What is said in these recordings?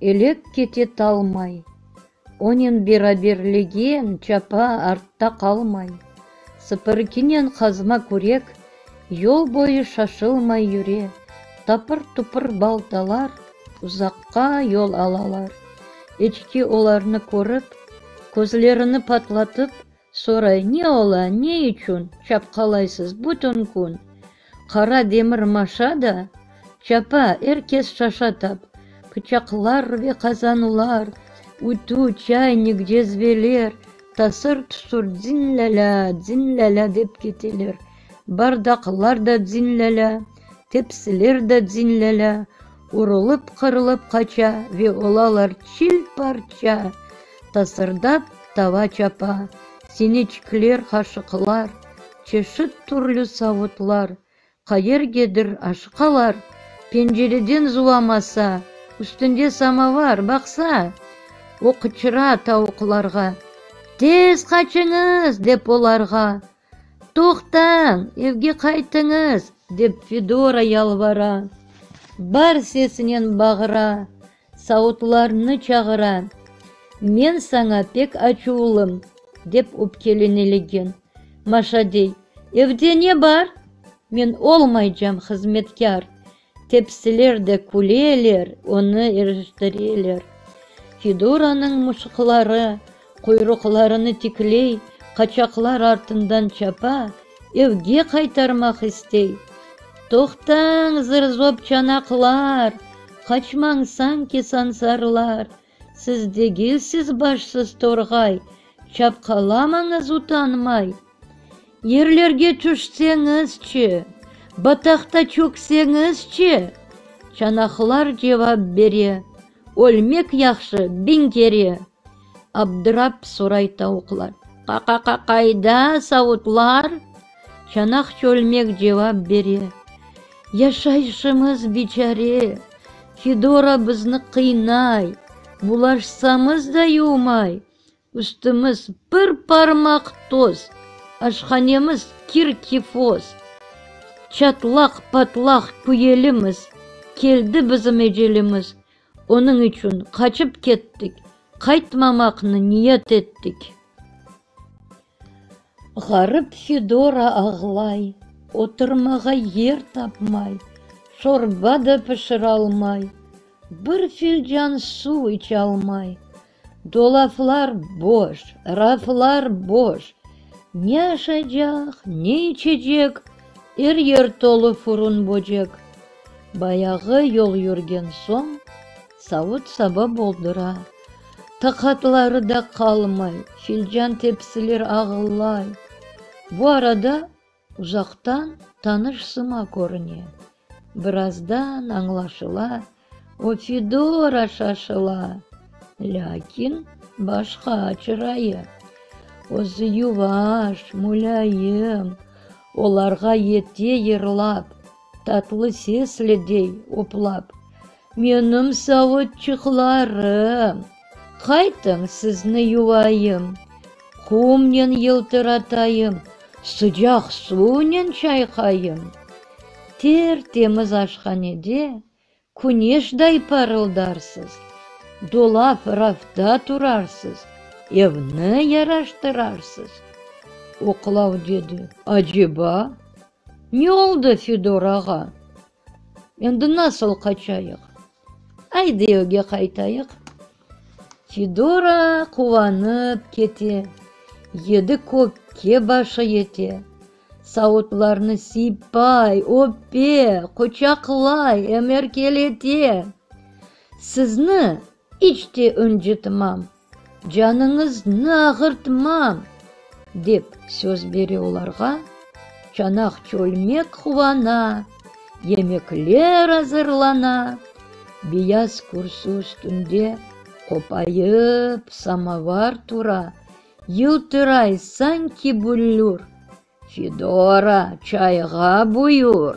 Elek kete talmay. Onen beraberlegen çapa artta qalmay. Sıpırıkinen qazma kürek yol boyu şaşılmay yüre. Tapır-tupır baltalar uzaqqa yol alalar. Eçki olarnı körip, közlerini patlatıp, Soray, ne ola, ne içün çapqalaysız bütün kün? Qara demir maşa da çapa, er kes şaşa tap, pıçaqlar ve qazanlar, ütü, çaynik, cezveler, tasır-tusır dzin-lâlâ, dzin-lâlâ dep keteler, bardaqlar da dzin-lâlâ, tepsiler da dzin-lâlâ, urılıp-qırılıp qaça ve olalar çil-parça, Tasırdap tava çapa, sineçikler, qaşıqlar, çeşit türlü savutlar, qayergedir aşıqalar, pencereden zuvamasa, üstünde samovar, baqsa, o qıçıra tavuqlarğa, Tez qaçıñız! dep olarğa, Toqtañ, evge qaytıñız! dep Fedora yalvara, bar sesinen bağıra, Saudlarnı çağıra. Men saña pek açuvlım, dep öpkelene legen. Maşa dey, Evde ne bar? Men olmaycam hızmetkâr. Tepsiler de küleler, onı eriştireler. Fiduranıñ muşıqları Quyruqlarını tikley, qaçaqlar artından çapa, evge qaytarmaq istey. Toqtañ, zır-zop çanaqlar! Qaçmañ, sanki sansarlar! Siz degilsiz başsız torğay, çapqalamañız utanmay! Yerlerge tüşseñizçe, bataqta çökseñizçe! Çanaqlar cevap bere, Ölmek yahşı, biñ kere! Abdırap soray tavuqlar. Qa-qa-qa-qayda savutlar? Çanaq çölmek cevap bere. Yaşayışımız biçare, Fidora bizni qıynay, Bulaşsamız da yuvmay, Üstümiz bir parmaq toz, Aşhanemiz kir-kifoz, Çatlaq-patlaq küyelimiz, Keldi bizim ecelimiz, Onıñ içün qaçıp kettik. Qaytmamaqnı niyet ettik. Ğarip Fidora ağlay. Oturmağa yer tapmay. Şorba da pişiralmay. Bir filcan suv içalmay. Dolaplar boş, raflar boş. Ne aşacaq, ne içecek, er yer tolu furun-böcek. Bayağı yol yürgen soñ, savut-saba boldura. Taqatları da qalmay, filcan-tepsiler ağılay. Bu arada Uzaqtan tanış sıma körüne. Birazdan añlaşıla, o Fidora şaşıla. Lâkin başqa çırayı. Özü yuvaş, mulâyım, olarğa yete yırlap. Tatlı sesle dey oplap. Menim savutçıqlarım! Qaytıñ, sizni yuvayım, Qumnen yıltıratayım, Sıcaq suvnen çayqayım. Ter-temiz aşhanede Küneşday parıldarsız. Dolap, rafta turarsız. Evni yaraştırarsız. Oqlav dedi. Aceba? Ne oldı, Fidor ağa? Endi nasıl qaçayıq? Ayde, evge qaytayıq. Fidora quvanıp kete, yedi kökke başı yete, savutlarnı siypay, öpe, quçaqlay, em erkelete. Sizni iç te öncitmam, canıñıznı ağırtmam, dep söz bere olarğa, çanaq çölmek quvana. Yemekler azırlana, beyaz kürsi üstünde qopayıp samovar tura, yıltıray sanki büllür, Fidora çayğa buyur.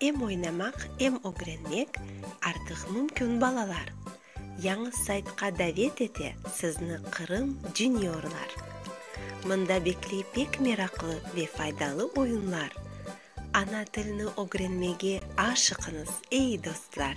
Em oynamaq, em ögrenmek artıq mümkün balalar. Yañı saytqa davet ete sizni Qırım Juniorlar. Mında bekley pek meraqlı ve faydalı oyunlar. Ana tilni ögrenmege aşıqıñız, ey dostlar!